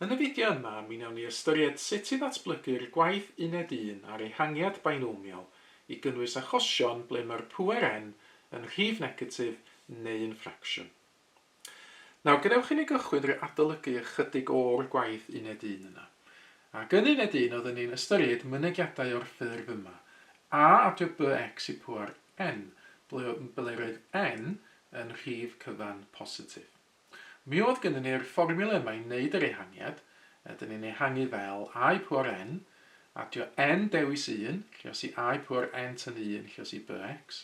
Yn y fideo yma, mi wnawn ni ystyried sut i ddatblygu'r gwaith Uned Un a'r ehangiad bainomial i gynnwys achosion ble mae'r pŵer N yn rhif negatif neu'n ffracsiwn. Nawr, gadewch i ni gychwyn drwy adolygu ychydig o'r gwaith Uned Un yna. Ac yn Uned Un oeddwn ni'n ystyried mynegiadau o'r ffurf yma, a adio bx i pŵer N, ble ble'r oedd N yn rhif cyfan positif. Mi oedd gynnon ni'r fformiwla yma i wneud yr ehangiad, ydyn ni'n ehangu fel I pŵar n, adio n dewis 1, lluos i I pŵar n tynnu 1 lluos i bx,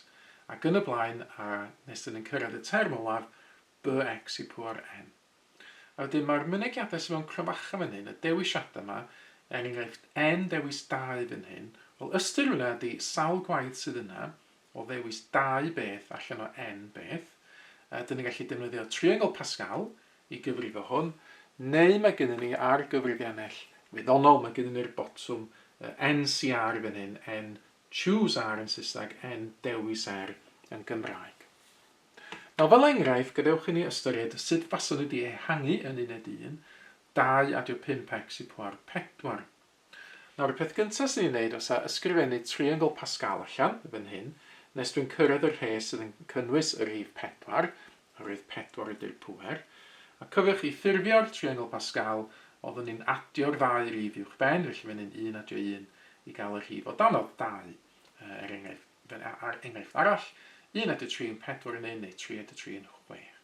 ac yn y blaen, a nes dyn ni'n cyrraedd y term olaf, bx i pŵar n. A wedyn mae'r mynegiadau sydd mewn cromfacha fan hyn, y dewisiadau yma, er enghraifft n dewis 2 fan hyn, wel ystyr hwnna ydy sawl gwaith sydd yna, o ddewis dau beth allan o n beth, ydyn ni'n gallu defnyddio triongl Pascal i gyfrifo hwn, neu mae gennyn ni ar gyfrifiannell wyddonol, mae gennyn ni'r botwm NCR fan hyn, N choose R yn Saesneg, N dewis R yn Gymraeg. Nawr fel enghraifft, gadewch i ni ystyried sut faswn ni wedi ehangu yn uned 1, 2 adio 5x i pwar 4. Nawr, y peth gynta' swn i'n neud fysa ysgrifennu triongl Pascal allan, fan hyn, nes dwi'n cyrraedd y rhes sydd yn cynnwys y rhif pedwar, oherwydd pedwar ydy'r pŵer. A cofiwch i ffurfio'r triongl Pascal, oeddwn ni'n adio'r ddau rif uwchben, felly fan hyn un adio un i gael y rhif o danodd, dau, er enghraifft, a'r enghraifft arall, un adio tri yn pedwar yn un, neu tri adio tri yn chwech.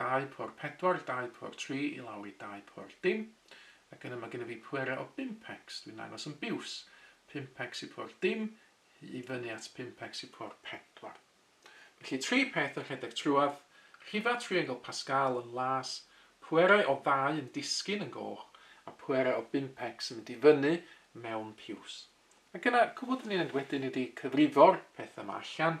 Dau pwr pedwar, dau pwr tri i lawr i dau pwr dim. Ac yna mae gennyf fi pwerau o bumpecs, dwi'n dangos yn biws. Pumpecs i pwr dim, i fyny at pumpecs i pwr pedwar. Felly tri peth yn rhedeg trwyadd, rhifau triongl Pascal yn las, pwerau o ddau yn disgyn yn goch, a pwerau o bumpecs yn mynd i fyny mewn piws. Ac yna, cwbl dyn ni'n neud wedyn ydy cyfrifo'r pethau yma allan.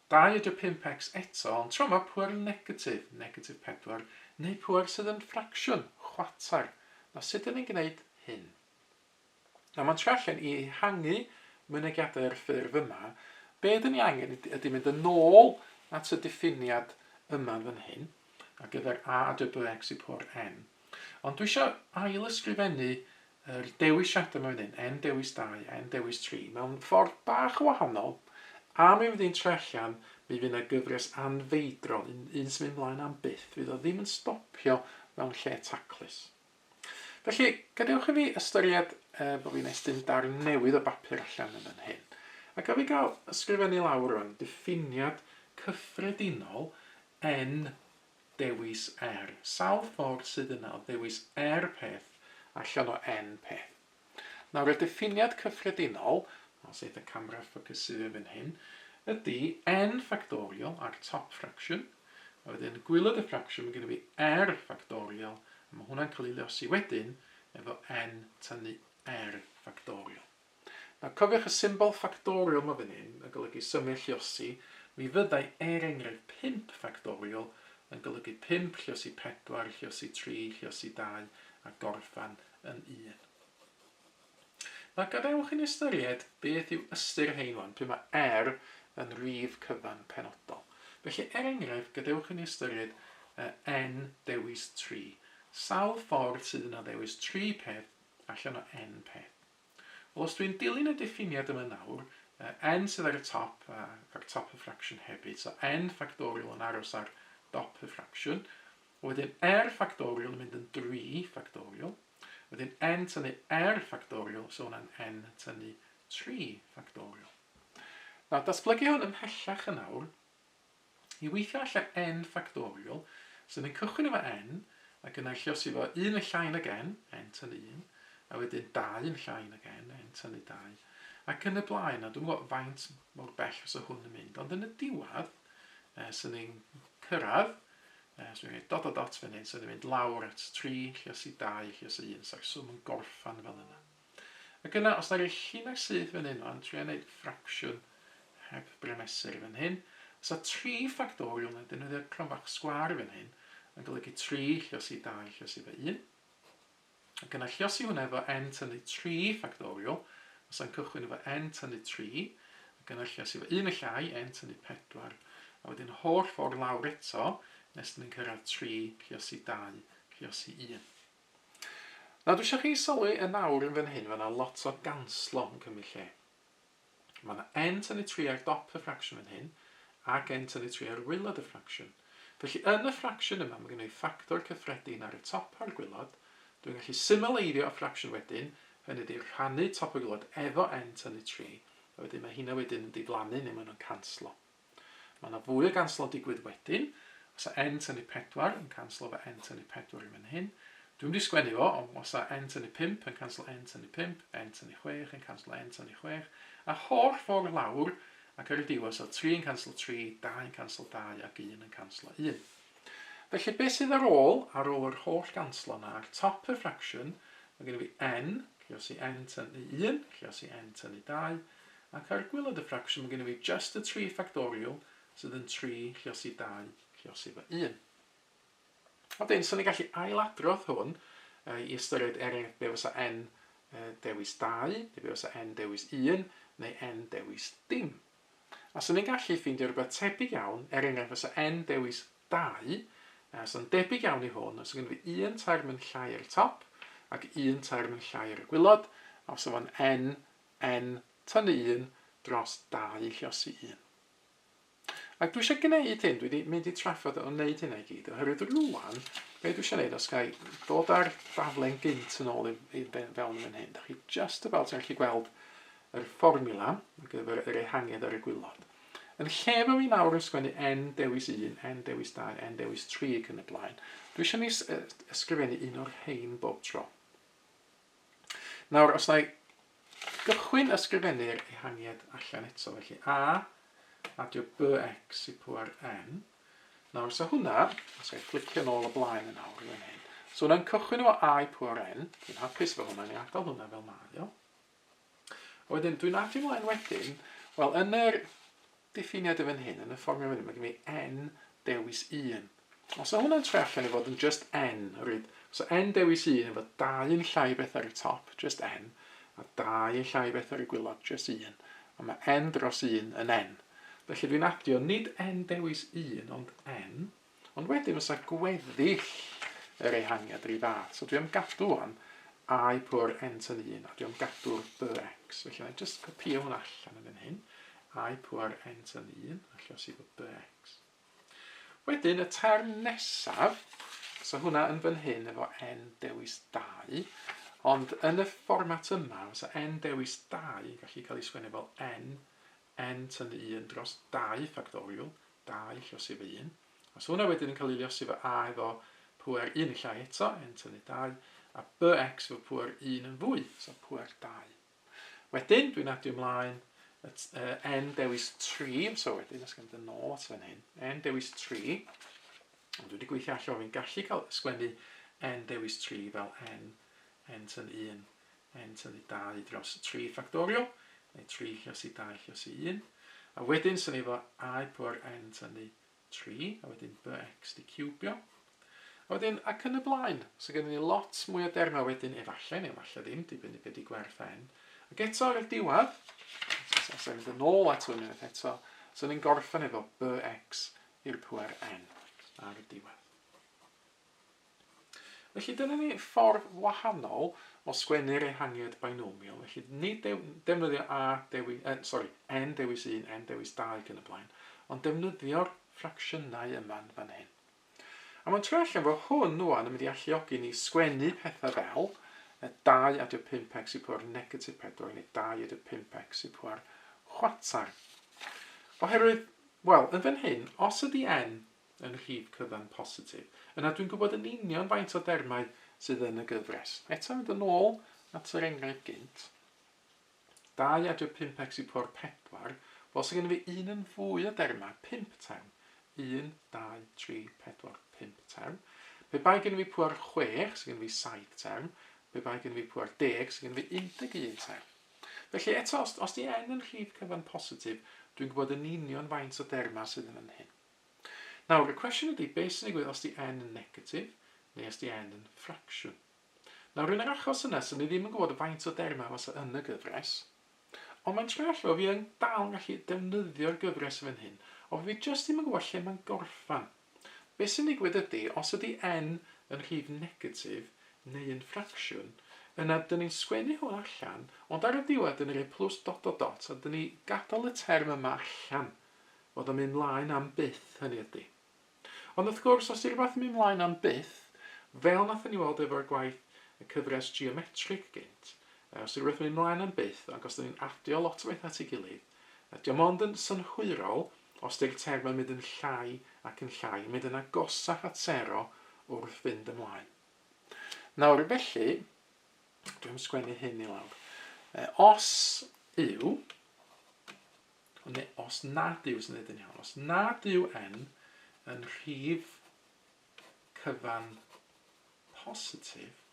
25X eto, ond tro 'ma pŵer negatif, negatif 4, neu pŵer sydd yn ffracsiwn, chwarter. Nawr, sut dyn ni'n gwneud hyn? Nawr, mae'n trio allan i ehangu mynegiadau ar y ffurf yma. Be dyn ni angen ydy mynd yn ôl at y diffiniad yma fan hyn, ar gyfer a y byw x i pŵer n. Ond dwi eisiau ail-ysgrifennu Yr dewisiadau mewn un, en dewis dau, en dewis tri, mewn ffordd bach yn wahanol, a mi fydd hi'n troi allan, mi fydd yna gyfres anfeidrol, un, un sy'n mynd mlaen am byth, fydd o ddim yn stopio mewn lle taclus. Felly, gadewch i fi ystyried e, bod fi'n estyn darn newydd o bapur allan yn fan hyn. Ac a fi gael ysgrifennu lawr rwan, diffiniad cyffredinol en Dewis er. Sawl ffordd sydd yna o ddewis er peth allan o N peth. Nawr y diffiniad cyffredinol, os eith y camera ffocysu fe fan hyn, ydy N ffactorial a'r top fraction, a wedyn gwylod y ffracsiwn mae gennyf fi R ffactorial, a mae hwnna'n cael ei leosi wedyn efo N tynnu R ffactorial. Nawr, cofiwch y symbol ffactorial 'ma fan hyn yn golygu symau lliosi, mi fyddai, er enghraifft, pump ffactorial yn golygu pump lliosi pedwar, lliosi tri, lliosi dau, a gorffen yn un. Nawr, gadewch i ni ystyried beth yw ystyr rhein wan, pryd mae R yn rif cyfan penodol. Felly, er enghraifft, gadewch i ni ystyried n dewis tri. Sawl ffordd sydd yna o ddewis tri peth allan o n peth? Wel, os dwi'n dilyn y diffiniad yma nawr, yy n sydd ar y top, a ar top y ffracsiwn hefyd, so n ffactorial yn aros ar dop y ffracsiwn, wedyn r ffactorial yn mynd yn dri ffactorial, wedyn n tynnu r ffactorial, so hwnna'n n tynnu tri ffactorial. Nawr, datblygu hwn ymhellach yn awr, I weithio allan N ffactorial, so ni'n cychwyn efo N, ac yna lliosi fo 1 yn llai nag N, N tan 1, a wedyn 2 yn llai nag N, N tan y 2, ac yn y blaen, a dwi'n gwybod faint mor bell fysa hwn yn mynd, ond yn y diwedd, e, so ni'n cyrraedd, e, so ni'n dot a dot fan hyn, so ni'n mynd lawr at 3, lliosi 2, lliosi 1, sa'r swm yn gorffan fel yna. Ac yna, os na rei chi'na syth fan hyn wan, tria neud ffracsiwn heb bremesur fan hyn. Os na tri ffactorial, na defnyddio cronfach sgwâr fan hyn, yn golygu tri lliosi dau lliosi fo un. Ac yna lliosi hwnna efo n tynnu tri ffactorial, os na'n cychwyn efo n tynnu tri, ac yna lliosi fo un y llai, n tynnu pedwar, a wedyn holl ffordd lawr eto, nes da ni'n cyrraedd tri lliosi dau lliosi un. Nawr dwi isio chi sylwi yn awr yn fan hyn ma' 'na lot o ganslo yn cymryd lle. Ma' 'na n tynnu tri ar dop y ffracsiwn fan hyn ac n tynnu tri ar waelod y ffracsiwn. Felly yn y ffracsiwn yma ma' gynna i ffactor cyffredin ar y top a'r gwaelod, dwi'n gallu symleiddio y ffracsiwn wedyn, hynny ydi rhannu top a gwaelod efo n tynnu tri, a wedyn ma' heina wedyn yn diflannu neu ma' nhw'n canslo. Mae yna fwy o ganslo digwydd wedyn. Os a N tynnu pedwar yn canslo fy N tynnu pedwar i fan hyn. Dwi'm wedi sgwennu fo, ond os a N tynnu pump yn canslo N tynnu pump, N tynnu chwech yn canslo N tynnu chwech, a'r holl ffordd lawr, ac ar y diwedd, so tri yn canslo tri, dau yn canslo dau, ac un yn canslo un. Felly, beth sydd ar ôl, ar ôl yr holl ganslo yna, ar top y ffracsiwn, mae gen i fi N, lle os i N tynnu un, lle os i N tynnu dau, Ac ar gwaelod y ffracsiwn mae gennym ni just y tri ffactorial sydd yn 3 lluosi 2 lluosi fy 1. Wedyn, so ni'n gallu ailadrodd hwn i ystyried er enghraifft be fysa n dewis 2, neu be fysa n dewis 1, neu n dewis dim. A so ni'n gallu ffeindio rhywbeth tebyg iawn, er enghraifft fysa n dewis 2, a so'n debyg iawn i hwn, os gyda fi un term yn llai ar y top, ac un term yn llai ar y gwylod, a os o'n n Yn tynnu un dros dau lluosi un. Ac dwi eisiau gwneud hyn, dwi wedi mynd i trafod o wneud hynna i gyd, oherwydd rwan, be dwi eisiau wneud, os gai dod ar daflen gynt yn ôl i, i fewn yn fan hyn, da chi just about yn gallu gweld yr fformula ar gyfer yr ehangiad ar y gwylod. Yn lle fo fi nawr yn sgwennu n dewis 1, n dewis 2, n dewis 3 ac yn y blaen, dwi eisiau ni ysgrifennu un o'r rhain bob tro. Nawr, os na i gychwyn ysgrifennu'r ehangiad allan eto, felly a, adio bx i pŵer n. Nawr, so hwnna, os gael fflicio nôl o blaen yn awr i fan hyn, so hwnna'n cychwyn efo a i pŵer n, dwi'n hapus efo hwnna, ni adael hwnna fel mae o. Wedyn, dwi'n adio mlaen wedyn, wel, yn yr diffiniad yn fan hyn, yn y fformiwla fan hyn, mae gen i n dewis 1. Os o hwnna'n troi allan i fod yn just n, ryd, os o n dewis 1 efo 2 yn llai o beth ar y top, just n, a 2 yn llai o beth ar y gwylod, just 1, a mae n dros 1 yn n. Felly dwi'n adio nid n dewis 1 ond n. Ond wedyn fysa gweddill yr ehangiad yr un fath. So dwi am gadw wan I pwr ent yn un, a dwi am gadw'r byr x. Felly na i just copio hwn allan yn fan hyn. I pwr ent yn un, a lle os i fod byr x. Wedyn y term nesaf, so hwnna yn fan hyn efo n dewis 2, ond yn y fformat yma, fysa n dewis 2 yn gallu cael ei sgwennu fel n yn tynnu un dros dau ffactorial, dau llosif o un, os hwnna wedyn yn cael ei liosi fo a efo pŵer un yn llai eto, yn tynnu dau, a bx efo pŵer un yn fwy, so pŵer dau. Wedyn, dwi'n adio ymlaen at uh, n dewis 3, so wedyn, os gan dyn nôl at fan hyn, n dewis 3, ond dwi wedi gweithio allan, fi'n gallu cael sgwennu n dewis 3 fel n, n tyn 1 yn tynnu dau dros tri ffactorial, neu tri lluos i dau lluos i un, a wedyn sy'n efo a i pwr n tynnu tri, a wedyn bx di ciwbio, a wedyn ac yn y blaen. So gen ni lot mwy o dermau wedyn efallai, neu efallai ddim, dibynnu beth di gwerth n. Ac eto ar y diwedd, os e'n mynd yn ôl at hwn unwaith eto, so ni'n gorffen efo bx i'r pwer n ar y diwedd. Felly dyna ni ffordd wahanol o sgwennu'r ehangiad binomial, felly nid dew, defnyddio a dewi, eh, sorry, n dewis 1, n dewis 2 ac yn y blaen, ond defnyddio'r ffracsiynau yma'n fan hyn. A mae'n troi allan fod hwn wan yn mynd i alluogi ni sgwennu pethau fel 2 adio 5x i pwer negatif 4 neu 2 adio 5x i pwer chwatar. Oherwydd, wel, yn fan hyn, os ydy n yn rhif cyfan positif. Yna dwi'n gwybod yn union faint o dermau sydd yn y gyfres. Eto mynd yn ôl at yr enghraifft gynt, 2 adre 5x i pôr 4, wel sy'n gen i fi un yn fwy o dermau, 5 term. 1, 2, 3, 4, 5 term. Pe bai gen i fi pŵer 6, sy'n gen i fi 7 term. Pe bai gen i fi pŵer 10, sy'n gen i fi 11 term. Felly eto, os, os di n yn rhif cyfan positif, dwi'n gwybod yn union faint o dermau sydd yn fan hyn. Nawr, y cwestiwn ydy, be sy'n digwydd os di n yn negatif, neu os di n yn ffracsiwn? Nawr, yn yr achos yna, so ni ddim yn gwybod faint o dermau fasa yn y gyfres, ond mae'n troi allan, fi yn dal yn gallu defnyddio'r gyfres fan hyn, ond fi jyst ddim yn gwybod lle mae'n gorffan. Be sy'n digwydd ydy, os ydy n yn rhif negatif, neu yn ffracsiwn, yna dyn ni'n sgwennu hwn allan, ond ar y diwedd dyn ni'n rhoi plws dot dot dot, a dyn ni gadael y term yma allan. Oedd o'n mynd 'mlaen am byth, hynny ydi. Ond wrth gwrs, os 'di rhywbeth yn mynd 'mlaen am byth, fel wnaethon ni weld efo'r gwaith y cyfres geometric gynt, yy os 'di rhywbeth yn mynd 'mlaen am byth, ac os 'dan ni'n adio lot o bethau at ei gilydd, yy 'di o mond yn synhwyrol os 'di'r terfau yn mynd yn llai ac yn llai, yn mynd yn agosach at sero wrth fynd ymlaen. Nawr, felly, dwi'n sgwennu hyn i lawr. Yy, os yw Ond ne, os nad yw, os nid yn iawn, os nad yw N yn rhif cyfan positif,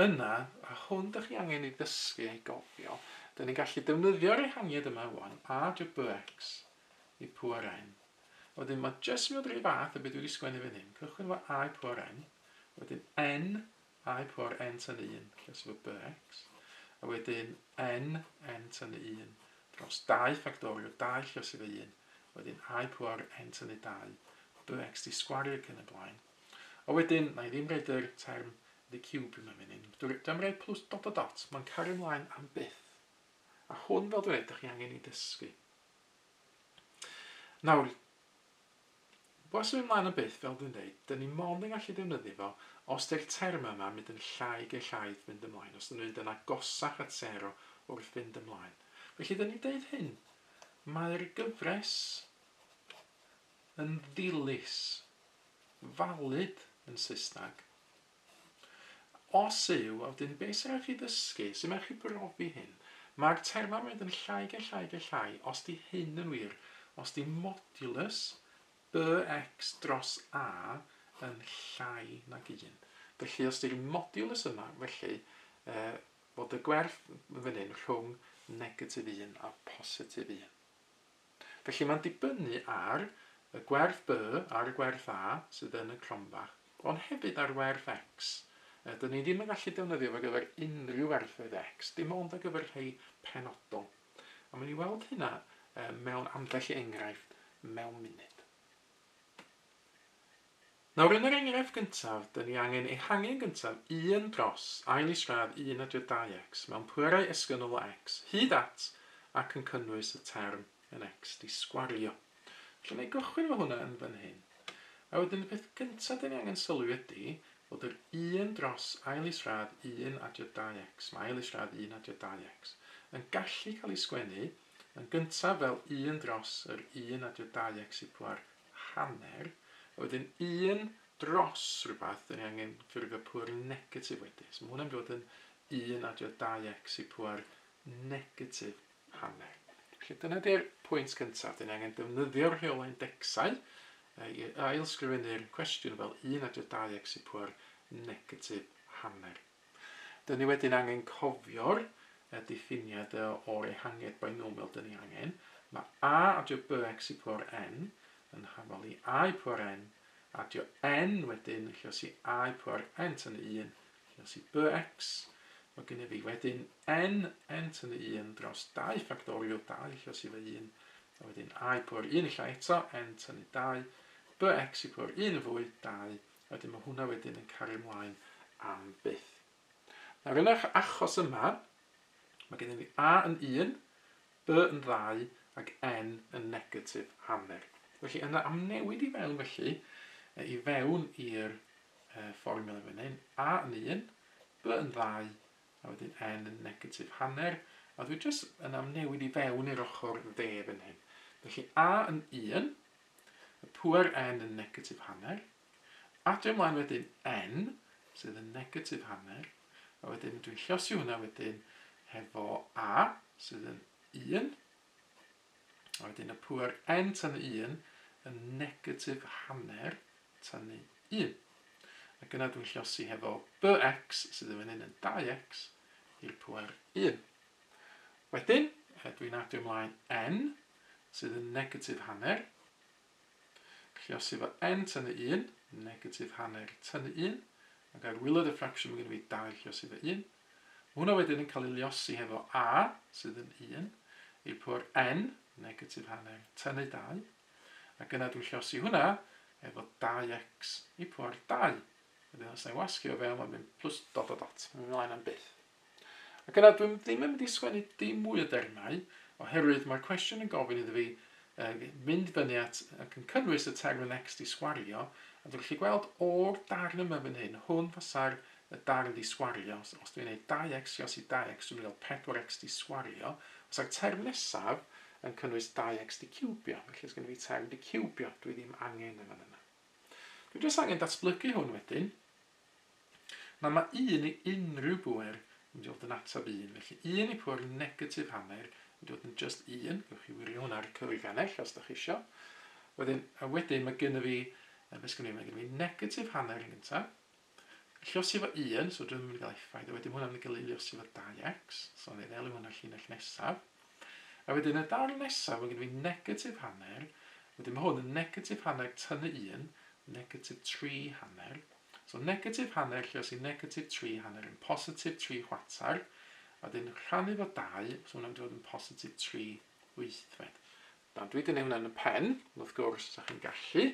yna, a hwn dych chi angen ei ddysgu ei gofio, dyn ni'n gallu defnyddio'r ehangiad yma wan, a dy byx i pŵer n. Wedyn mae jyst yn mynd rhyw fath o beth dwi wedi sgwennu fan hyn. Cychwyn efo a i pŵer n, wedyn n I por n tynnu un dros fy by x, a wedyn n n tynnu un dros dau ffactorio dau llysu fy un, wedyn I por n tynnu dau by x di sgwario ac yn y blaen. A wedyn, na i ddim roed yr term the cube yma fan hyn. Dwi am roed plus dot dot dot. Mae'n cario mlaen am byth. A hwn, fel dweud, da chi angen i ddysgu. Nawr, Wel, symud mlaen am byth, fel dwi'n deud, dan ni mond yn gallu defnyddio fo os di'r termau yma'n mynd yn llai gellhau wrth fynd ymlaen, os dan nhw'n mynd yn agosach at sero wrth fynd ymlaen. Felly, dan ni'n deud hyn, mae'r gyfres yn ddilys, valid yn Saesneg, Os yw, a wedyn be' sy raid chi ddysgu? Sut mae chi brofi hyn? Mae'r termau'n mynd yn llai ge llai ge llai, os di hyn yn wir, os di modulus BX dros A yn llai nag un. Felly os di'r modulus yma, felly e, fod y gwerth yn fan hyn rhwng negatif un a positif un. Felly mae'n dibynnu ar y gwerth B, ar y gwerth A sydd yn y cronfach, ond hefyd ar werth X. Dyn ni ddim yn gallu defnyddio fo ar gyfer unrhyw werthoedd X, dim ond ar gyfer rhai penodol. A mae'n ni weld hynna mewn ambell enghraifft mewn munud. Nawr yn yr enghraifft gyntaf, dyn ni angen ehangu'n gyntaf un dros ail isradd un a dri dau x mewn pwerau esgynol o x hyd at ac yn cynnwys y term yn x di sgwario. Felly na i gychwyn efo hwnna yn fan hyn. A wedyn y peth gyntaf dyn ni angen sylwi ydy bod yr un dros ail isradd un a dri dau x, mae ail isradd un a dri dau x, yn gallu cael ei sgwennu yn gyntaf fel un dros yr un a dri dau x i pwer hanner oedd yn un dros rhywbeth, dan ni angen ffurfio pŵer negatif wedyn. So mae hwnna'n dod yn 1 adio 2x i pŵer negatif hanner. Felly dyna di'r pwynt gyntaf. Dyn ni angen defnyddio'r rheolau indecsau i ailsgrifennu'r cwestiwn fel 1 adio 2x i pŵer negatif hanner. Dyn ni wedyn angen cofio'r y diffiniad y o'r ehangiad binomial dyn ni angen. Mae a adio bx i power n yn hafal i a i power n adio n wedyn yn llios i a i power n tan 1 llios i bx. Mae gennyf fi wedyn n n tan 1 dros 2 ffactorial 2 llios i fy 1 a wedyn a i power 1 illa eto n tan 2 bx i power 1 yn fwy 2 Wedyn mae hwnna wedyn yn cario mlaen am byth. Nawr yn eich achos yma, mae gennym ni A yn 1, B yn 2 ac N yn negatif hanner. Felly yn amnewid i fewn felly, i fewn i'r fformiwla fan hyn, A yn 1, B yn 2 a wedyn N yn negatif hanner, a dwi jyst yn amnewid i fewn i'r ochr dde fan hyn. Felly A yn 1, Y pŵer n yn negatif hanner. Adio ymlaen wedyn n, sydd yn negatif hanner, a wedyn dwi'n llosi hwnna wedyn hefo a, sydd yn 1, a wedyn y pŵer n tan y 1 yn negatif hanner tan y 1. Ac yna dwi'n llosi hefo bx, sydd yn fan hyn yn 2x, i'r pŵer 1. Wedyn, dwi'n adio ymlaen n, sydd yn negatif hanner. Lluosi fo n tynnu 1, negatif hanner tynnu 1, ac ar wiloedd y ffracsiwn mae gen i fi 2 lluosi fo 1. Mae hwnna wedyn yn cael ei liosi hefo a, sydd yn 1, i'r pwr n, negatif hanner tynnu 2, ac yna dwi'n lluosi hwnna efo 2x i pwr 2. Wedyn os na i wasgu o fewn, mae'n mynd plus dot dot dot. Mae'n mynd ymlaen am byth. Ac yna dwi'm ddim yn mynd i sgwennu dim mwy o dermau, oherwydd mae'r cwestiwn yn gofyn iddo fi yy mynd fyny at ac yn cynnwys y term next i sgwario, a dwi'n gallu gweld o'r darn yma fan hyn, hwn fasa'r y darn di sgwario, os, os dwi'n gwneud 2x i os i 2x dwi'n mynd i gael 4x di sgwario, os a'r term nesaf yn cynnwys 2x di ciwbio, felly os gen i fi term di ciwbio, dwi ddim angen yn fan yna. Dwi jyst angen datblygu hwn wedyn, Na, mae un i unrhyw bŵer yn dod yn ateb un, felly un i pŵer negatif hanner yn dod yn just un, gewch chi wirio hwnna ar y cyfrif ganell os da chi isio. Wedyn, a wedyn mae gynnu fi, uh, beth sgynnu, mae gynnu fi negatif hanner yn gyntaf, llosi fo 1, so dwi'n mynd i gael effaith, a wedyn hwnna'n mynd i gael ei llosi fo 2x, so ni'n elw hwnna llinell nesaf. A wedyn y darn nesaf ma' gynno fi negatif hanner, wedyn ma' hwn yn negatif hanner tynnu un, negatif tri hanner. So negatif hanner lle os i negatif tri hanner yn positif tri chwater, a wedyn rhannu fo dau, so hwnna'n mynd i fod yn positif tri wythfed. Nawr dwi wedi neud hwnna yn y pen, ond wrth gwrs os da chi'n gallu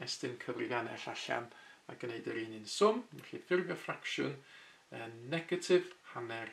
estyn cyfrifiannell allan a gneud yr un un swm, felly ffurfio ffracsiwn yn negatif hanner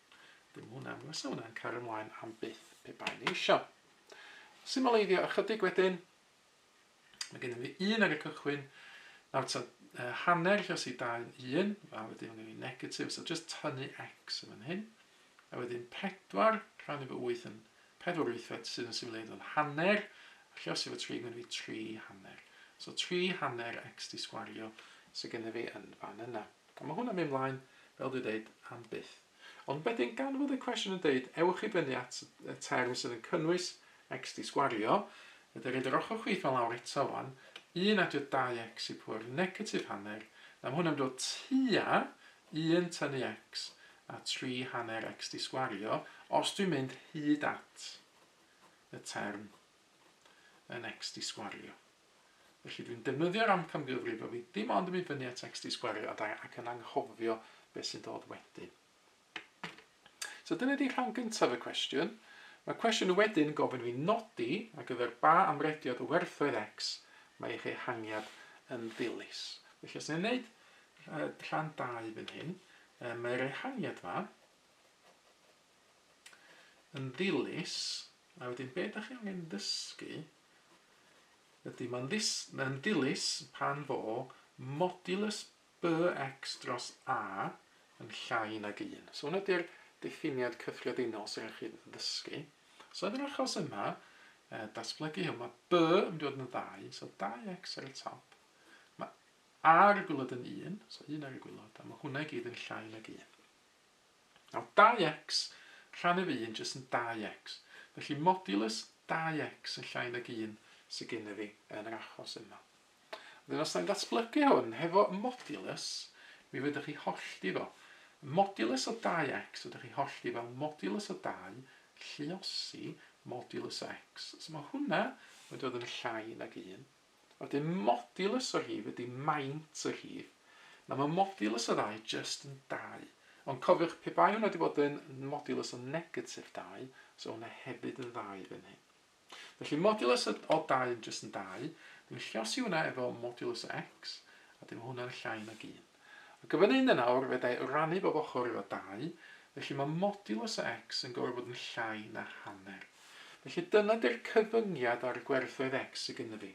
Dim hwn am fysa hwnna'n cario mlaen am byth pe bai ni eisiau. Symaleiddio ychydig wedyn. Mae gennym ni un ar y cychwyn, nawr ta uh, hanner lle sy'n dau yn un, a wedyn mae gen i negatif, so just tynnu x yn fan hyn. A wedyn 4 rhan efo 8 yn 4 wythfed sydd yn symleiddio yn hanner, a lle os efo 3 mae gen i 3 hanner. So 3 hanner x di sgwario sydd gen i fi yn fan yna. Mae hwn yn mynd mlaen, fel dwi dweud, am byth. Ond wedyn, gan fod y cwestiwn yn dweud, ewch i fyny at y term sydd yn cynnwys xd sgwario, fedra i roid yr ochr chwith 'ma lawr eto wan, 1 adio 2x i power negatif hanner, na mae hwn yn mynd o tua 1 tynnu x a 3 hanner xd sgwario, os dwi'n mynd hyd at y term yn xd sgwario. Felly dwi'n defnyddio'r amcangyfrif a fydd dim ond yn mynd fyny a text i sgwario a dau ac yn anghofio beth sy'n dod wedyn. So dyna di rhan gyntaf y cwestiwn. Mae cwestiwn wedyn yn gofyn fi nodi ar gyfer ba amrediad o werthoedd X mae eich ehangiad yn ddilys. Felly os ni'n gwneud rhan 2 fan hyn, mae'r ehangiad yma yn ddilys, a wedyn beth ydych chi angen ddysgu Ydy, mae'n ddilys pan fo modulus bx dros A yn llai nag un. So hwnna ydy'r diffiniad cyffredinol sy'n rhaid chi ddysgu. So yn yr achos yma, datblygu hwn, mae B yn mynd i fod yn ddau, so 2x ar y top. Mae A ar y gwylod yn un, so un ar y gwylod, a mae hwnna i gyd yn llai nag un. Nawr 2x rhan ef 1 jyst yn 2x, felly modulus 2x yn llai nag 1 sydd gennyf fi yn yr achos yma. Wedyn os da ni'n datblygu hwn hefo modulus, mi fydda chi hollti fo. Modulus o 2x fydda chi hollti fel modulus o 2 lluosi modulus o x. So mae hwnna yn dod yn llai nag 1. Wedyn modulus o hyd ydy maint o hyd. Nawr mae modulus o ddau jyst yn dau. Ond cofiwch, pe bai hwnna wedi bod yn modulus o negatif dau, fysa hwnna hefyd yn ddau fan hyn. Felly modulus o o dau yn jyst yn dau, dwi'n llosi hwnna efo modulus o x, a wedyn mae hwnna'n llai nag un. Ac y fan hyn yn awr, fe dai rannu bob ochr efo 2, felly mae modulus o x yn gorfod bod yn llai na hanner. Felly dyna di'r cyfyngiad ar y gwerthoedd x sy gynna fi.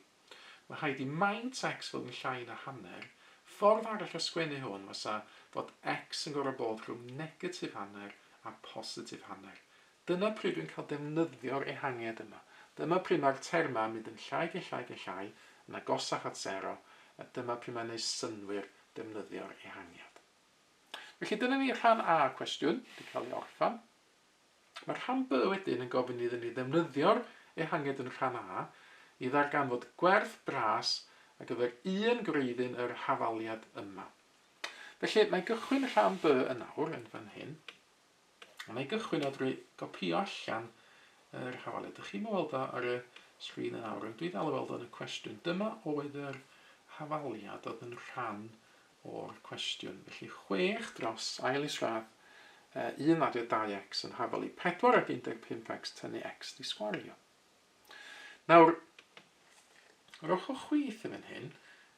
Mae rhaid i maint x fod yn llai na hanner, ffordd arall o sgwennu hwn fasa fod x yn gorfod bod rhwng negatif hanner a positif hanner, Dyna pryd dwi'n cael defnyddio'r ehangiad yma. Dyma pryd mae'r termau yn mynd yn llai ac yn llai ac yn llai, yn agosach at sero, a dyma pryd mae'n gwneud synnwyr defnyddio'r ehangiad. Felly dyna ni rhan A y cwestiwn, wedi cael ei orffen. Mae rhan B wedyn yn gofyn iddyn ni ddefnyddio'r ehangiad yn rhan A i ddarganfod gwerth bras ar gyfer un gwreiddyn yr hafaliad yma. Felly, mae gychwyn rhan B yn awr, yn fan hyn. A wna i gychwyn o drwy gopio allan yr hafalau. Dych chi'n weld o ar y sgrin yn awr, ond dwi dal i weld o'n y cwestiwn. Dyma oedd yr hafaliad oedd yn rhan o'r cwestiwn. Felly 6 dros ail isradd uh, 1 adio 2x yn hafalu 4 ag 15x tynnu x di sgwario. Nawr, yr ochr chwith yn fan hyn,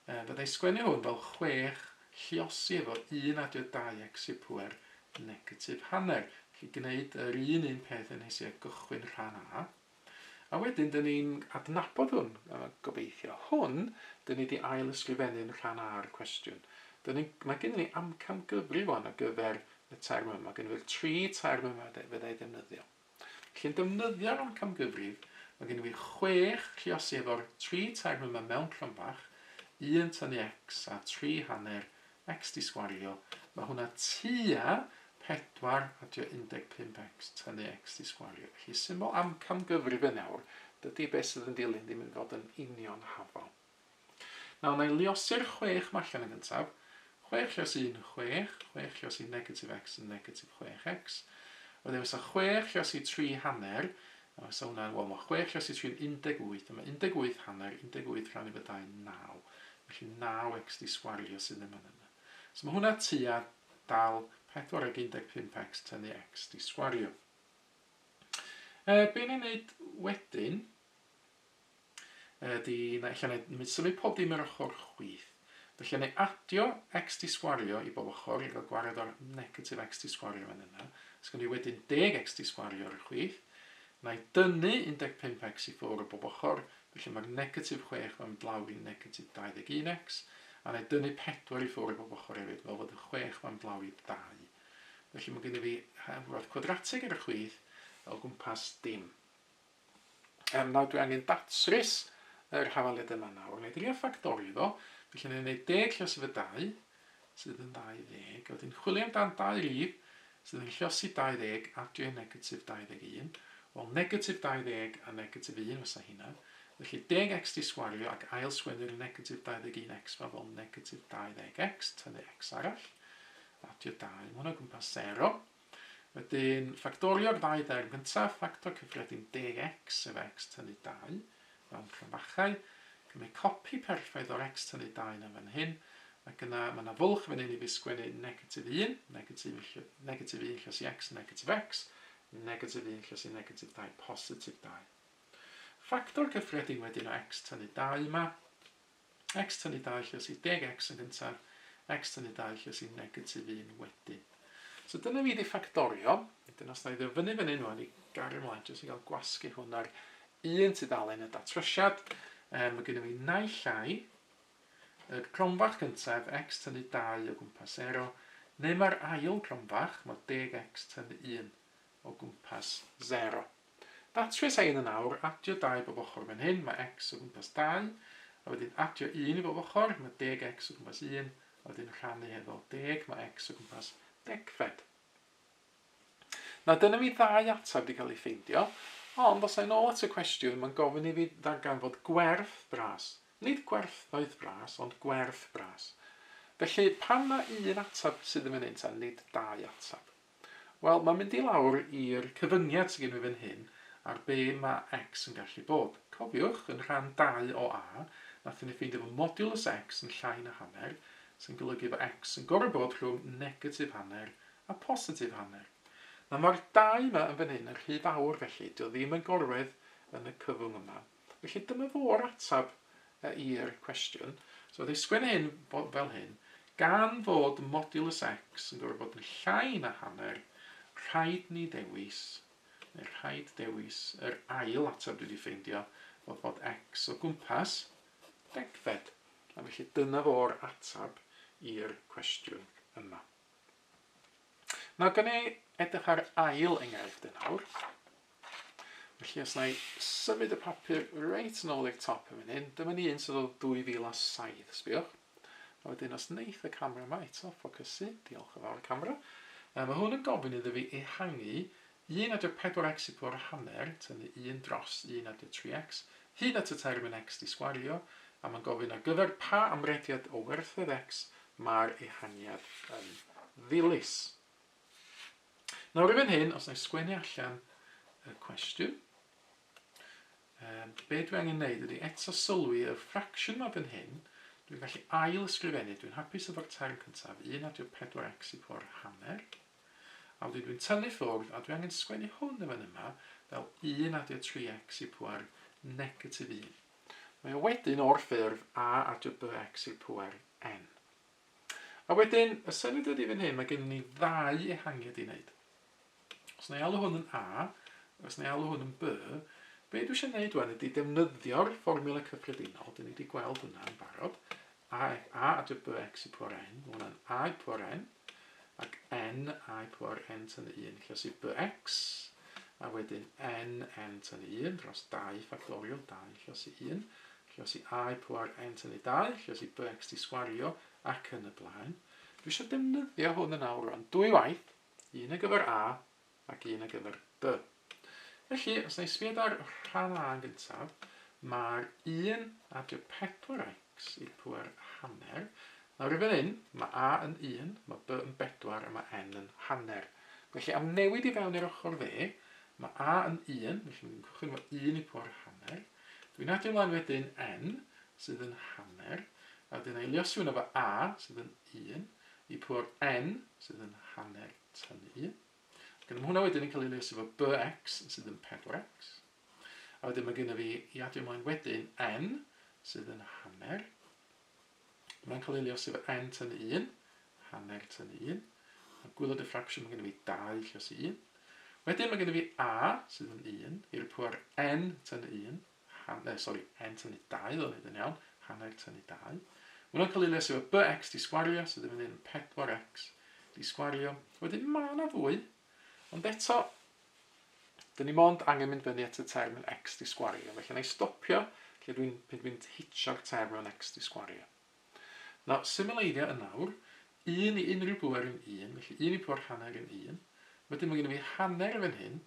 uh, byddai sgwennu hwn fel chwech lliosi efo un adio dau exit pwer negatif hanner. Felly gwneud yr un un peth yn hesi a gychwyn rhan A. A wedyn, dyn ni'n adnabod hwn, uh, gobeithio. Hwn, dyn ni wedi ail ysgrifennu'n rhan A'r cwestiwn. Dyn ni, mae gen ni amcam gyfrif o'n ar gyfer y term yma. Mae gen i'r tri term yma fyddai ddefnyddiol. Felly yn defnyddio'r amcamgyfrif, mae gennym ni chwech triosi efo'r tri term yma mewn crynfach, 1 tynnu x a 3 hanner x di sgwario, mae hwnna tua 4 adio 15 x tynnu x di sgwario. Felly symbol amcamgyfrif yn awr, dydy beth sydd yn dilyn ddim yn fod yn union hafal. Nawr, na i luosi'r chwech 'ma allan yn gyntaf. Chwech lluos un, chwech. Chwech lluos i negatif x yn negatif chwech x. Wedyn fysa chwech lluos i tri hanner, a fysa hwnna'n, wel, mae chwech lluos i tri yn 18, a mae 18 hanner, 18 rhan i fod dau'n naw. Felly naw x di sgwario sydd ddim yn yna. So mae hwnna tua dal pedwar ag un deg pump x tynnu x di sgwario. Be ni'n neud wedyn? ydy na ella neu nid symud pob dim yr ochr chwith. Felly yn ei adio x di sgwario i bob ochr i gael gwared o'r negatif x di sgwario fan yna. Os gynnu wedyn deg x di sgwario ar y chwith. Na i dynnu 15 x i ffwr o bob ochr, felly mae'r negatif 6 fan blaw i negatif 21 x, a na i dynnu 4 i ffwr o bob ochr hefyd, fel fod y 6 fan blaw i 2. Felly mae gen i fi hafwraeth cwadratig ar y chwith o gwmpas dim. Yym, nawr dwi angen datrys yr hafaliad yma nawr. Wna i drio ffactorio fo. Felly wna i wneud deg llosgi fy 2, sydd yn 20. Wedyn chwilio amdan dau rif sydd yn llosgi 20, adio negatif 21. Wel, negatif 20 a negatif 1 fysa hynna. Felly deg x di sgwario ac ail sgwennu'r negatif 21x fa fel negatif 20x, tynnu x arall, adio 2. Mae hwnna gwmpas 0. Wedyn, ffactorio'r ddau dderm gyntaf, ffactor cyffredin deg x sef x tynnu dau, mewn cromfachau. Cymru copi perffaith o'r x tynnu dau yna fan hyn, ac yna mae yna fwlch fan hyn i fi sgwennu negatif un, negatif un lle, negatif un lle sy x, negatif x, negatif un lle sy negatif dau, positif dau. Ffactor cyffredin wedyn o x tynnu dau yma, X tynnu 2 lle os yw deg X yn gyntaf, X tynnu 2 lle os yw negatif 1 wedyn. So dyna fi di ffactorio, wedyn os na i ddyfynnu fyny nhw'n i gario ymlaen jyst i gael gwasgu hwn ar un tudalen y datrysiad, um, mae gennym ni naill ai y cronfach gyntaf x tynnu 2 o gwmpas 0, neu mae'r ail cronfach, mae deg x tynnu 1 o gwmpas sero. Datrys a un yn awr, adio dau bob ochr fan hyn, mae x o gwmpas dau, a wedyn adio un i bob ochr, mae deg x o gwmpas un, a wedyn rhannu hefo deg, mae x o gwmpas degfed. Na, dyna mi ddau ateb di cael ei ffeindio, ond os a'n ôl at y cwestiwn, mae'n gofyn i fi ddarganfod gwerth bras. Nid gwerthoedd bras, ond gwerth bras. Felly, pam na un ateb sydd yn fan hyn ta, nid dau ateb? Wel, mae'n mynd i lawr i'r cyfyngiad sydd gen fi fan hyn ar be mae x yn gallu bod. Cofiwch, yn rhan 2 o A, nathon ni ffeindio fod modiwlws x yn llai na hanner, sy'n golygu fod x yn gorfod bod rhwng negatif hanner a positif hanner. Nawr, mae'r 2 yma yn fan hyn yn rhy fawr, felly, 'di o ddim yn gorwedd yn y cyfwng yma. Felly dyma fo'r ateb i'r cwestiwn. So oedd ei sgwennu hyn fel hyn, gan fod modulus x yn gorfod bod yn llai na hanner, rhaid ni ddewis, neu rhaid dewis yr ail ateb dwi wedi ffeindio, oedd bod x o gwmpas degfed. A felly dyna fo'r ateb i'r cwestiwn yma. Nawr, gan ei edrych ar ail enghraifft yn awr, Felly os na i symud y papur reit yn ôl i'r top yn fan hyn, dyma ni un sydd o 2007, sbiwch. A wedyn os neith y camera yma eto ffocysu, diolch yn fawr y camera, um, mae hwn yn gofyn iddo fi ehangu 1.4x i pwrw hanner, tynnu 1 dros 1.3x, hyd at y termyn x di sgwario, a mae'n gofyn ar gyfer pa amrediad o werthoedd x mae'r ehangiad yn ddilys. Nawr i fan hyn, os na i sgwennu allan y cwestiwn, um, be dwi angen neud ydy eto sylwi y fraction ma fan hyn, dwi'n gallu ail ysgrifennu, dwi'n hapus efo'r term cyntaf, 1 adio 4x i po'r hanner, a wedyn dwi'n tynnu ffwrdd, a dwi angen sgwennu hwn yn fan yma, fel 1 adio 3x i po'r negatif 1. Mae o wedyn o'r ffurf a adio bx i'r pŵer n. A wedyn, y syniad ydy fan hyn, mae gennym ni ddau ehangiad i wneud. Os na i alw hwn yn A, os na i alw hwn yn B, be dwi eisiau gwneud wan ydy defnyddio'r fformula cyffredinol, dyn ni wedi gweld hwnna yn barod, A, A a dwi BX i pwar N, mae hwnna'n A i pwar N, ac N A i pwar N tan 1, lle sydd BX, a wedyn N N tan 1 dros 2 ffactorial 2 lle sydd 1, Lluosi I pŵer N tynnu dau, lluosi B X T sgwario, ac yn y blaen. Dwi eisiau defnyddio hwn yn awr rwan, dwy waith, un ar gyfer A ac un ar gyfer B. Felly, os na i sbio ar rhan A yn gyntaf, mae'r 1 a drio 4x i'r pŵer hanner. Nawr i fan hyn, mae A yn 1, mae B yn 4 a mae N yn hanner. Felly, am newid i fewn i'r ochr dde, mae A yn 1, felly ni'n cychwyn efo 1 i pŵer hanner. Dwi'n adio mlaen wedyn N, sydd yn hanner, a wedyn eiliosiwn efo A, sydd yn un, i pwr N, sydd yn hanner tynnu un. Ac yna mae hwnna wedyn yn cael ei eiliosi efo BX, sydd yn 4X. A wedyn mae gen i fi i adio mlaen wedyn N, sydd yn hanner, Mae'n cael ei liosi efo N tyn 1, hanner tyn 1. A gwylio diffraction, mae gen i fi 2 lliosi 1. Wedyn mae gen i fi A, sydd yn 1, i rypio'r N tyn 1, han, eh, sori, N tyn 2, ddo'n i yn iawn, hanner tyn 2. Mae'n cael ei liosi efo BX di sgwario, sydd yn mynd i'n 4X di sgwario. Wedyn mae yna fwy, ond eto, Dyn ni mond angen mynd fyny at y term yn x di sgwario, felly na i stopio lle dwi'n pan dwi'n hitio'r term mewn x di sgwario. Na, symleiddio yn awr, 1 i unrhyw bŵer yn 1, felly 1 i pŵer hanner yn 1. Wedyn mae gen i fi hanner fan hyn,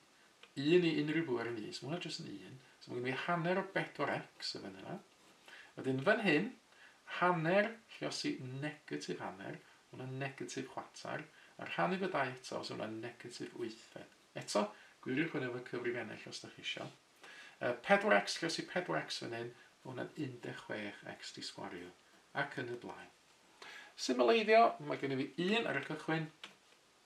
1 i unrhyw bŵer yn 1, so mae hwnna jyst yn 1. So mae gen i fi hanner o 4x yn fan yna. Wedyn fan hyn, hanner, lluosi negatif hanner, ma' hwnna'n negatif chwarter, a rhannu fo dau eto, so ma' hwnna'n negatif wythfed. Eto, gwiriwch hwn efo cyfrifennill os da chi isio. Uh, 4x, lluosi 4x fan hyn, ma' hwnna'n 16x di sgwario, ac yn y blaen. Symleiddio, mae gen i fi un ar y cychwyn,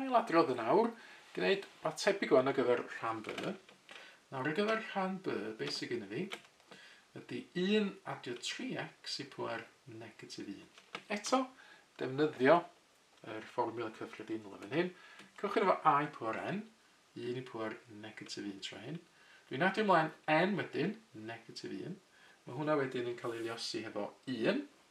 Ailadrodd yn awr, gwneud rhywbeth tebyg wan ar gyfer rhan B. Nawr ar gyfer rhan B, beth sydd gyda fi ydy 1 adio 3x i pwer negatif 1. Eto, defnyddio yr fformiwla cyffredinol yn fan hyn. Cychwyn efo a i pwer n, 1 i pwer negatif 1 tro hyn. Dwi'n adio ymlaen n wedyn, negatif 1. Mae hwnna wedyn yn cael ei liosi hefo 1,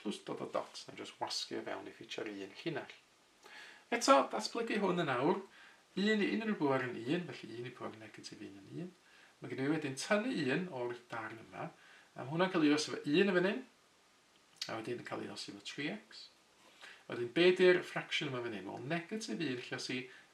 plus dod o dots na jyst wasgu o fewn i ffitsio'r un llinell. Eto, datblygu hwn yn awr, un i unrhyw bŵer yn un, felly un i bŵer negatif un yn un. Mae gen i wedyn tynnu un o'r darn yma, a mae hwnna'n cael ei os efo un yn fan hyn, a wedyn yn cael ei os efo 3x. A wedyn, be di'r fraction yma fan hyn? Wel, negatif un lle os i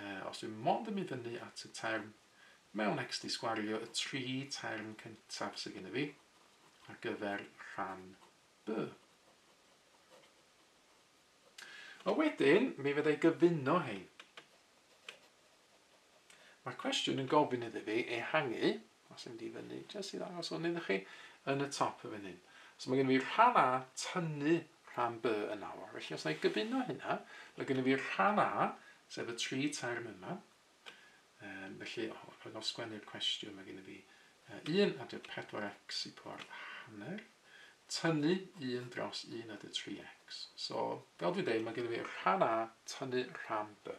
A os dwi mond yn mynd fyny at y term mewn XD sgwario y tri term cyntaf sydd gennyf fi ar gyfer rhan B. A wedyn, mi fydda i gyfuno hein. Mae'r cwestiwn yn gofyn iddi fi ehangu, os yn mynd i fyny, jyst i ddangos hwn iddo chi, yn y top y fan hyn. So mae gen i fi rhan A tynnu rhan B yn awr. Felly os na i gyfuno hynna, mae gennym fi rhan A, sef y tri term yma. Um, felly, o, rhaid o sgwennu'r cwestiwn, mae gennym fi uh, 1 a 4x i pwar hanner, tynnu 1 dros 1 a 3x. So, fel dwi'n dweud, mae gennym fi rhan A tynnu rhan B.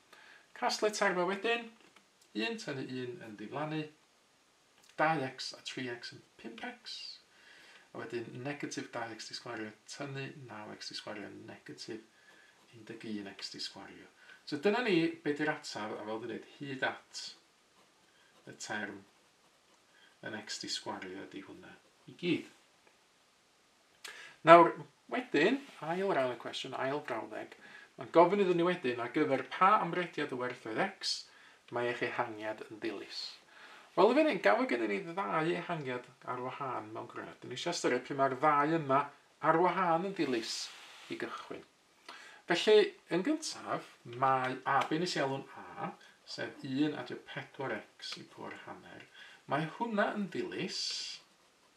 Casglu terfau wedyn, un tynnu un yn ddiflannu, 2x a 3x yn 5x, a wedyn negatif 2x di sgwario tynnu 9x di sgwario negatif 11x di sgwario. So dyna ni be di'r ataf a fel dwi'n dweud hyd at y term yn x di sgwario ydy hwnna i gyd. Nawr, wedyn, ail ran y cwestiwn, ail frawddeg, mae'n gofyn iddyn ni wedyn ar gyfer pa amrediad o werthoedd X mae eich ehangiad yn dilys. Wel, yn fan hyn, gafo gennym ni ddau ehangiad ar wahân mewn gwirionedd. Dyn ni eisiau ystyried pryd mae'r ddau yma ar wahân yn dilys i gychwyn. Felly, yn gyntaf, mae a, be nes i alw'n a, sef 1 adio 4x i pŵer hanner, mae hwnna yn ddilys,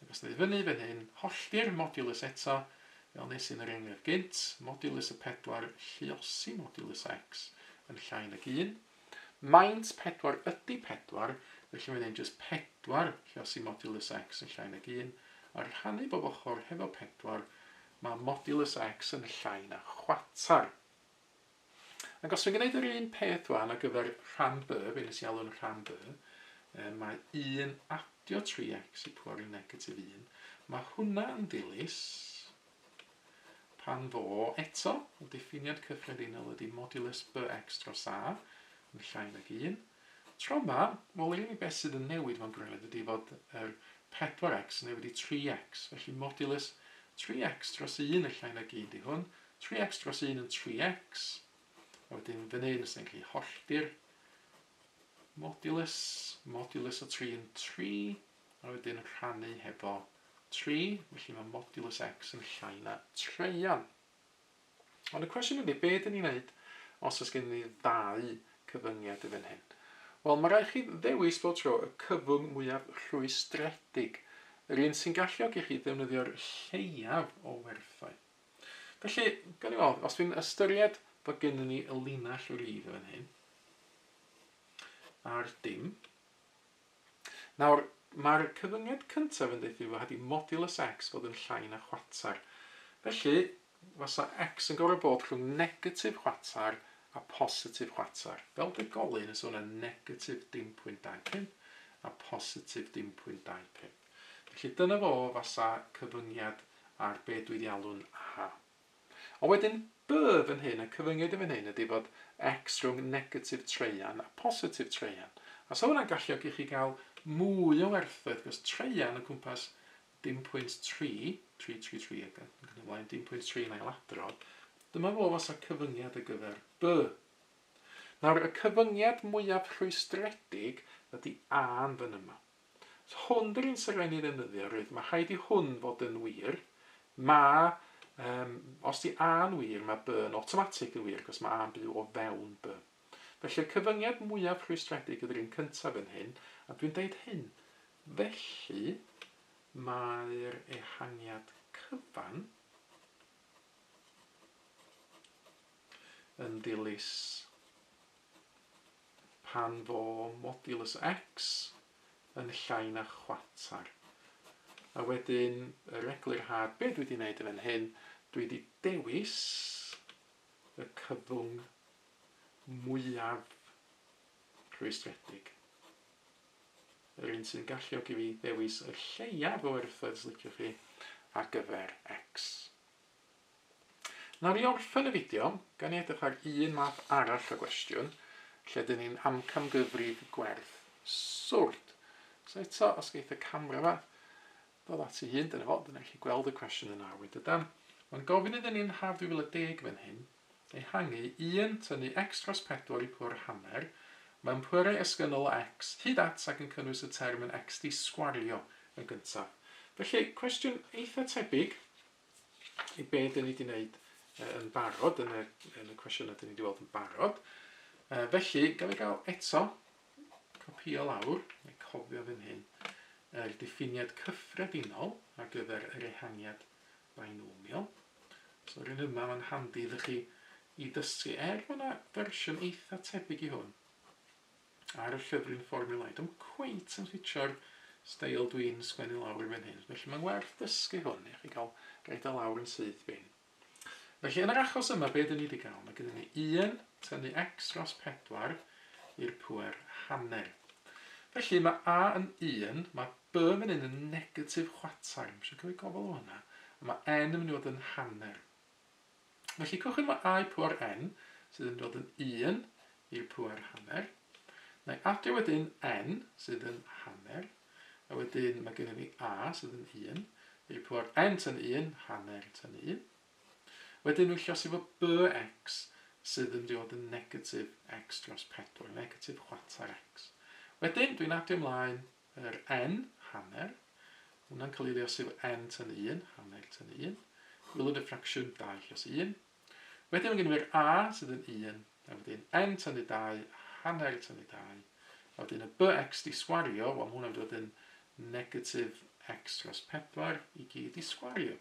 Ac os dau fyny fan hyn, hollti'r modulus eto, fel nes i yn yr enghraifft gynt, modulus y pedwar, lluosi modulus X yn llai nag un. Maint pedwar ydi pedwar, felly mae'n ein jyst pedwar lluosi modulus X yn llai nag un, a rhannu bob ochr hefo pedwar, mae modulus X yn llai na chwatar. Ac os dwi'n gwneud yr un peth wan ar gyfer rhan B, be nes i alw'n rhan B, um, mae 1 adio 3x i pwar i negatif 1. Mae hwnna yn ddilys pan fo eto, y diffiniad cyffredinol ydy modulus bx dros a yn llai nag 1. Tro yma, wel yr unig beth sydd yn newid mewn gwirionedd ydy fod yr 4x yn newid i 3x, felly modulus 3x dros 1 yn llai nag 1 di hwn, Tri x dros un yn tri x, a wedyn fan hyn os da ni'n gallu hollti'r modulus, modulus o tri yn tri, a wedyn rhannu hefo tri, felly mae modulus x yn llai na treian. Ond y cwestiwn ydy, be dyn ni'n neud os oes gen ni ddau cyfyngiad yn fan hyn? Wel, mae rhaid chi ddewis bob tro y cyfwng mwyaf rhwystredig, yr un sy'n galluogi chi ddefnyddio'r lleiaf o werthoedd. Felly, gawn ni weld, os dwi'n ystyried bod gennym ni y linell rydd yn fan hyn, a'r dim. Nawr, mae'r cyfyngiad cyntaf yn deuthu fod wedi modulus x fod yn llai na chwarter. Felly, fasa x yn gorfod bod rhwng negatif chwarter a positif chwarter. Fel degolyn, ysa hwnna'n negatif dim pwynt dau pump a positif dim pwynt dau pump. Felly dyna fo fasa cyfyngiad ar be dwi di alw'n A. Ond wedyn By fan hyn, y cyfyngiad i fan hyn ydi fod X rhwng negatif traean a positif traean. A sa hwnna'n galluogi chi gael mwy o werthoedd, cos traean o gwmpas dim pwynt tri, tri, tri, tri, ac yn yn ymlaen, dim pwynt tri yn ailadrodd, dyma fo fasa cyfyngiad ar gyfer By. Nawr, y cyfyngiad mwyaf rhwystredig ydi A yn fan yma. Os hwn di'r un sy'n rhaid ni ddefnyddio, rwyt, mae rhaid i hwn fod yn wir, mae, um, os di a'n wir, mae by yn automatic yn wir, cos mae a'n byw o fewn by. Felly'r cyfyngiad mwyaf rhwystredig ydy'r un cyntaf yn hyn, a dwi'n deud hyn, felly mae'r ehangiad cyfan yn dilys Pan fo modulus X yn llai na chwarter. A wedyn yr eglurhad, be dwi 'di neud yn fan hyn, dwi 'di dewis y cyfwng mwyaf rhwystredig. Yr un sy'n galluogi fi ddewis y lleiaf o erthoedd, os liciwch chi, ar gyfer X. Nawn ni orffen y fideo gan ni edrych ar un math arall o gwestiwn lle dyn ni'n amcamgyfrif gwerth swrd. So eto, os geith y camera yma ddod at ei hun, dyna fo, dyna chi gweld y cwestiwn yn arwydd dydan. Mae'n gofyn iddyn ni'n haf 2010 fan hyn, ehangu 1, tynnu x dros 4 i pwr hanner, mewn pwerau esgynnol o x, hyd at ac yn cynnwys y term yn x di sgwario yn gyntaf. Felly, cwestiwn eitha tebyg, be dyn ni wedi wneud yn barod yn y, yn y cwestiynau dyn ni wedi weld yn barod. Uh, felly, gael ei gael eto, copio lawr, neu cofio fan hyn, yr diffiniad cyffredinol ar gyfer yr ehangiad binomial. So, rhywun yma, mae'n handi ddych chi i ddysgu. Er, mae yna fersiwn eitha tebyg i hwn. ar y llyfryn fformiwlau. Dwi'm cweit yn ffitio'r steil dwi'n sgwennu lawr i fan hyn, felly mae'n werth dysgu hwn i chi gael roed o lawr yn syth bin. Felly yn yr achos yma, be dyn ni wedi gael? Mae gennym ni 1 tynnu x dros 4 i'r pwer hanner. Felly mae a yn 1, mae b fan hyn yn negatif chwatar, eisiau cael ei gofal o hwnna, a mae n yn mynd i fod yn hanner. Felly cwch yma a'i pŵer n, sydd yn dod yn 1 i'r pŵer hanner. Mae adio wedyn n, sydd yn hanner. A wedyn mae gennym ni a, sydd yn 1, i'r pŵer n tan 1, hanner tan 1. Wedyn rwy'n llosi fo bx, sydd yn dod yn negatif x dros 4, negatif chwarter x. Wedyn, dwi'n adio ymlaen Yr en, hanner, hwnna'n cael ei leosi efo en tyn 1, hanner tyn 1. Gwylod y ffracsiwn 2 lleos 1. Wedyn mae gen i fi'r a sydd yn 1, a wedyn en tynnu 2, hanner tynnu 2. A wedyn y bx di sgwario, wel mae hwnna'n dod yn negatif x dros 4 i gyd di sgwario.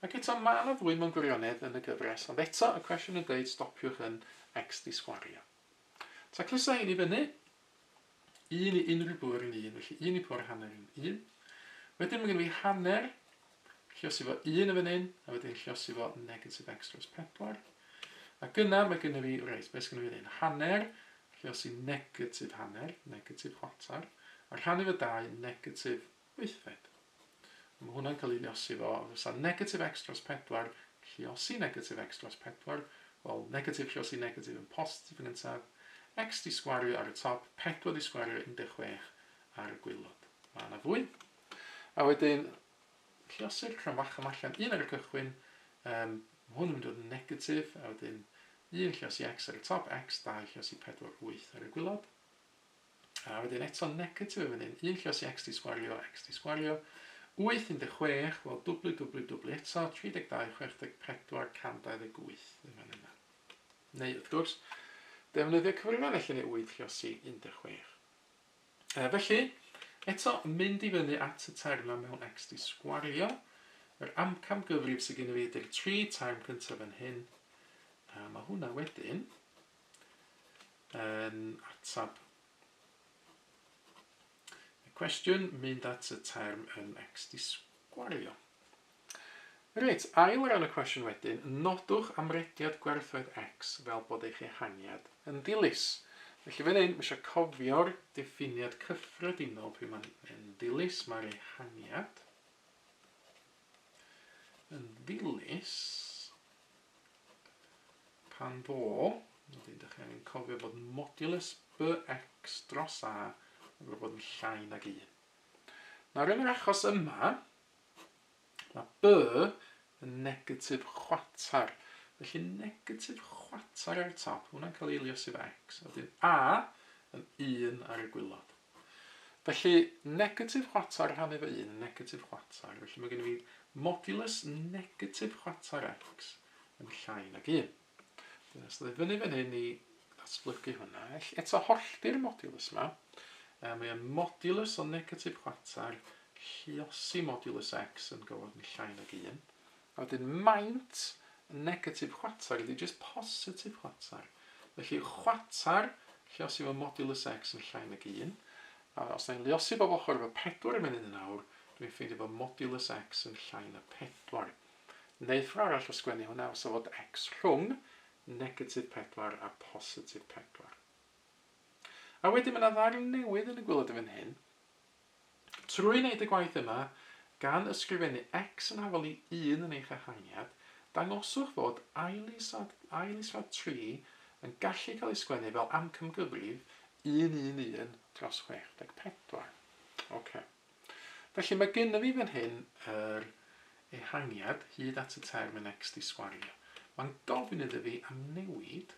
Ac eto, mae yna ddwy mewn gwirionedd yn y gyfres, ond eto y cwestiwn yn dweud stopiwch yn x di sgwario. Ta clusa hyn i fyny, Un i unrhyw bwr yn un, felly un i pwr hanner yn un. Wedyn mae gen i fi hanner, lliosi fo un yn fan hyn, a wedyn lliosi fo negatif x dros 4. A gyna mae gen i fi, reit, beth sy'n gen i fi hyn? Hanner, lliosi negatif hanner, negatif chwarter, a rhannu fo dau, negatif Wythfed. Mae hwnna'n cael ei lluosi ddo, a fysa negatif x dros pedwar lluosi negatif x dros pedwar, wel, negatif lluosi negatif yn positif yn gyntaf, x 'di sgwario ar y top, pedwar 'di sgwario 16 ar y gwaelod. Mae yna fwy. A wedyn, lluosi'r rhan fach yma allan, un ar y cychwyn, um, mae hwn yn mynd i fod yn negatif, a wedyn un lluosi x ar y top, x 2 lluosi 4, 8 ar y gwaelod. A wedyn eto negatif yn fan hyn, un lluosi x di sgwario, x di sgwario, 8, 16, wel dwbli, dwbli, dwbli eto, 32, 64, 128 yn fan yna. Neu, wrth gwrs, defnyddio cyfrifon felly neu 8 lluosi 16. E, felly, eto, mynd i fyny at y term na mewn x di sgwario, yr amcam gyfrif sydd gen i fi ydy'r 3 term cyntaf yn hyn, a mae hwnna wedyn, yn atab y cwestiwn, mynd at y term yn ex-disgwario. Reit, ail o ran y cwestiwn wedyn, nodwch amrediad gwerthoedd X fel bod eich ehangiad yn ddilys. Felly fan hyn, mae eisiau cofio'r diffiniad cyffredinol pryd mae'n ddilys, mae'r ehangiad. yn ddilys pan fo, ydych chi'n dechrau angen cofio bod modulus bx dros a yn gwybod bod yn llai nag 1. Nawr yn yr achos yma, mae b yn negatif chwatar, felly negatif chwatar ar y top, hwnna'n cael ei eiliosi fe x, a wedyn a yn 1 ar y gwylod. Felly, negatif chwarter rhannu fo un yn negatif chwarter, felly mae gen i fi modulus negatif chwarter x yn llai nag un. Dyna sydd ei fyny fan hyn i ddatblygu hwnna. Eto hollti'r modulus yma, e, mae e'n modulus o negatif chwarter lluosi modulus x yn gywod yn llai nag un. A wedyn maint y negatif chwarter ydy jyst positif chwarter. Felly chwarter lluosif o modulus x yn llai nag 1. A os da ni'n lluosi bob ochr efo 4 i fyny yn un awr, dw i'n ffeindio bod modulus x yn llai na 4. Neu ffordd arall o sgwennu hwnna fysa fod x rhwng negatif 4 a positif 4. A wedyn mae yna ddarn newydd yn y gwilod yn fan hyn. Trwy wneud y gwaith yma, gan ysgrifennu X yn afalu Un yn eich ehangedd, dangoswch fod ail-is-rad, ail-is-rad tri yn gallu cael ei sgwennu fel amcamgyfrif un un un dros chwech deg pedwar. Ok. Felly mae gynno fi fan hyn yr ehangiad hyd at y term yn X di sgwario. Mae'n gofyn iddo fi am newid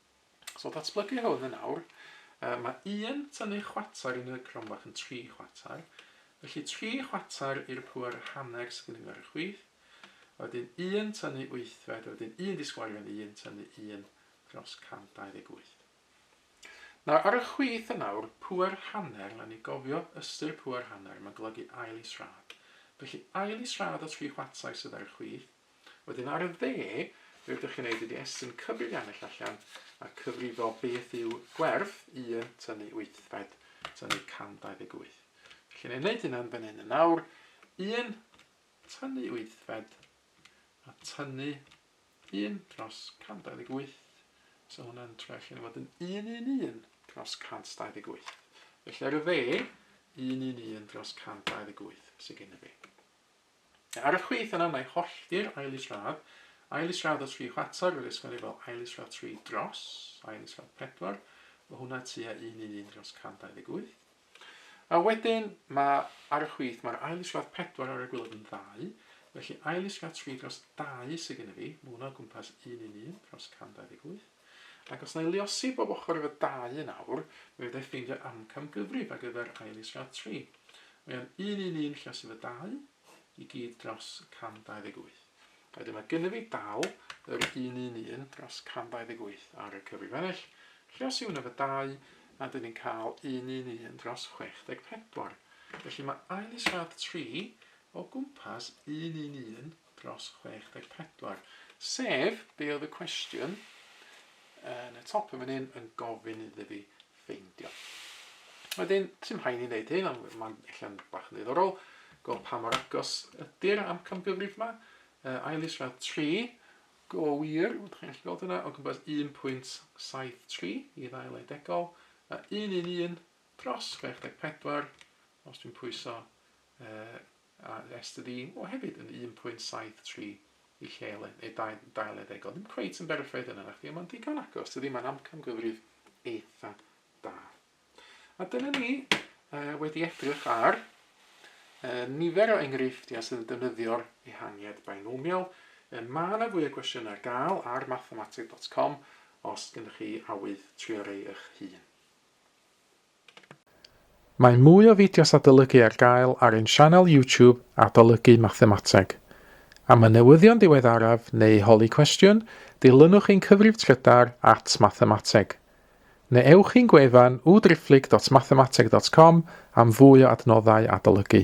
So ddatblygu hwn yn awr. Uh, mae un tynnu chwater yn y cronfach yn tri chwater. Felly tri chwater i'r pŵer hanner sydd gennym ni ar y chwith. A wedyn un tynnu wythfed, a wedyn un disgwarion i un tynnu un dros 128. Nawr, ar y chwith yn awr, pŵer hanner, rhaid ni gofio ystyr pŵer hanner, mae'n golygu ail israd. Felly ail israd o tri chwater sydd ar y chwith, Wedyn ar y dde, be ydych chi'n neud ydi estyn cyfrif Yanlış allan a cyfrifo beth yw gwerth 1 tynnu wythfed tynnu 128. Felly ni'n neud hynna'n fan hyn yn awr. 1 tynnu wythfed a tynnu 1 dros 128. So hwnna'n troi allan i fod yn 111 dros 128. Felly ar y dde, 111 dros 128 sydd gen i fi. Ar y chwith yna mae hollti'r ail isradd, ail isradd o tri chwarter fel ysgol efo ail isradd tri dros ail isradd pedwar, o hwnna tua un un un dros 128. A wedyn mae ar y chwith mae'r ail isradd pedwar ar y gwylod yn ddau, felly ail isradd tri dros dau sydd gen i fi, mae hwnna o gwmpas un un un dros 128. Ac os na'i luosi bob ochr efo dau yn awr, mi fedra'i ffeindio amcamgyfrif ar gyfer ail is rhad tri. Mae o'n un un un lluosi efo dau, i gyd dros 128. A wedyn mae gynnyf fi dal yr un un un dros 128 ar y cyfrif ennill, lluosi hwnna efo dau, a dyn ni'n cael un un un dros 64. Felly mae ail is rhad tri o gwmpas un un un dros 64, sef, be oedd y cwestiwn yn y top yn fan hyn yn gofyn iddo fi ffeindio. Wedyn, sy'n rhaid ni'n dweud hyn, ond mae'n allan bach yn ddiddorol, go pa mor agos ydy'r amcangyfrif yma, uh, ail is fel 3, go wir, ydych chi'n gallu gweld hwnna, o gwmpas 1.73 i ddail edegol, a 111 dros 64, os dwi'n pwyso uh, a estyn un, o hefyd yn 1.73 i lle le, neu dau, dau le ddegol. Ddim cweit yn berffaith yna, nachdi, ond mae'n digon agos, dydy, mae'n amcamgyfrif eitha da. A dyna ni uh, wedi edrych ar uh, nifer o enghreifftiau sydd yn defnyddio'r ehangiad binomial. Uh, mae yna fwy o gwestiynau ar gael ar mathematic.com os gennych chi awydd trio rei eich hun. Mae mwy o fideos adolygu ar gael ar ein sianel YouTube Adolygu Mathemateg. Am y newyddion diweddaraf neu holi cwestiwn, dilynwch ein cyfrif trydar at Mathemateg. Neu ewch i'n gwefan www.driphlyg.mathemateg.com am fwy o adnoddau adolygu.